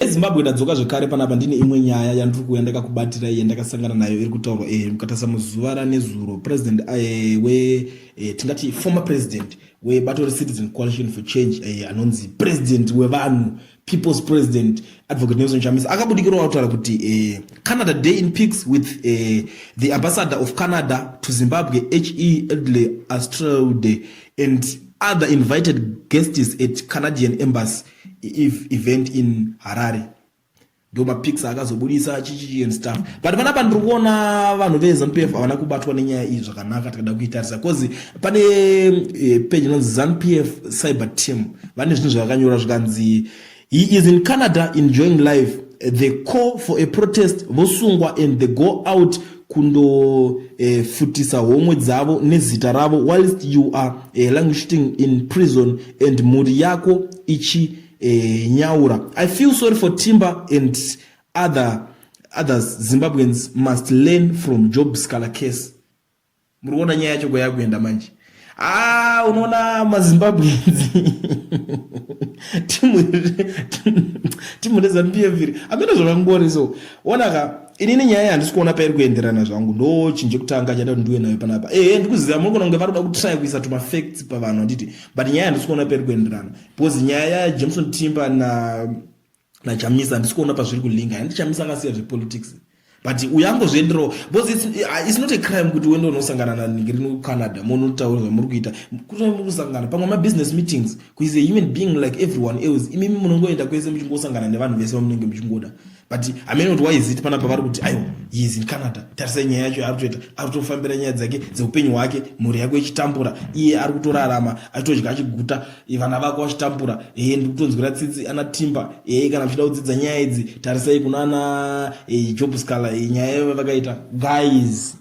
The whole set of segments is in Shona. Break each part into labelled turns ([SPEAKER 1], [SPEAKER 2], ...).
[SPEAKER 1] ezimbabwe tadzoka zvekare panapa ndine imwe nyaya yandiri kuuya ndakakubatirai yandakasangana nayo iri kutaurwa e eh, mukatasa muzuva ranezuro president eh, we eh, tingati former president webato recitizen coalition for change anonzi president wevanhu people's president advocate nelson chamisa akabudikirawo kutaura kuti canada day in pics with the ambassador of canada to zimbabwe he edley astrode and other invited guests at canadian embassy event in harare ndo mapics akazobudisa chichi and stuff but panapa ndiri kuona vanhu vezanup f havana kubatwa nenyaya iyi zvakanaka tikada kuitarisa bcause pane eh, page inonzi zanup f cyber team vane zvinhu zvavakanyora zvikanzi he is in canada enjoying life they call for a protest vosungwa and they go out kundofutisa eh, homwe dzavo nezita ravo whilst you are eh, languishing in prison and mhuri yako ichinyaura eh, i feel sorry for timber and other others zimbabweans must learn from job scalar case muri kuona nyaya yacho kwayakuenda manje aa unoona mazimbabwenzi timu rezanup f iri amene zvakangori so onaka inini nyaya yandisi kuona pairi kuenderana zvangu ndo chinhu chekutanga chada kuti ndiwe nayo panapa ehe ndikuziva muri kuona kunge vari kuda kutry kuisa tumafacts pavanhu handiti but nyaya yandisi kuona pairi kuenderana because nyaya yajameson timber na nachamisa handisi kuona pazviri kulinga handi chamisa akasiya zvepolitics but uyangozvienderawo because it's, uh, it's not a crime kuti uende unosangana naningi rino kucanada monotaura zvamuri kuita kuta muri kusangana pamwe mabusiness meetings kuis a human being like everyone else imimi munongoenda kwese muchingosangana nevanhu vese vamunenge muchingoda but amene kuti why is it panapa vari kuti aiwa is in canada tarisai nyaya yacho yaari kutoita ari kutofambira nyaya dzake dzeupenyu hwake mhuri yako ichitambura iye ari kutorarama achitodya achiguta vana vako vachitambura ee ndiri kutonzwira tsitsi ana timba ee kana muchida kudzidza nyaya idzi tarisai kuna ana ee job scala ee nyaya yavo vakaita guys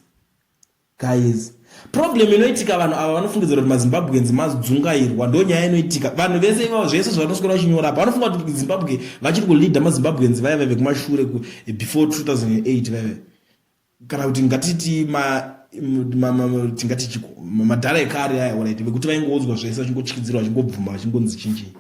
[SPEAKER 1] guys problem inoitika vanhu ava vanofungidzira kuti mazimbabweans madzungairwa ndo nyaya inoitika vanhu vese ivavo zvese zvavanoswera vachinyora apa vanofunga kuti zimbabwe vachiri kuleader mazimbabweans vaive vekumashure before 2008 vaive kana kuti ngatiti tingati chiko madhara ekare aya oraiti vekuti vaingoudzwa zvese vachingotyidzirwa vachingobvuma vachingonzi chinjii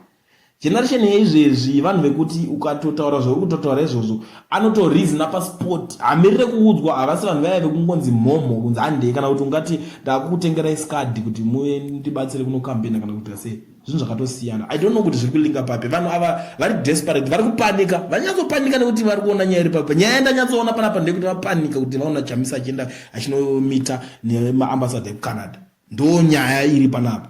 [SPEAKER 1] generation yeizvezvi vanhu vekuti ukatotaura zvauri kutotaura izvozvo anotorizina pasport hamirire kuudzwa havasi vanhu vaya vekungonzi mhomho kunzi handei kana kuti ungati ndakukutengerai skadi kuti muve ndibatsire kunokampena kana kuita sei zvinhu zvakatosiyana i don't know kuti zviri kulinga papi vanhu ava vari desperate vari kupanika vanyatsopanika nekuti vari kuona nyaya iri papi nyaya ndanyatsoona panapa ndeyekuti vapanika kuti vaona chamisa achienda achinomita nemaambasada ekucanada ndo nyaya iri panapa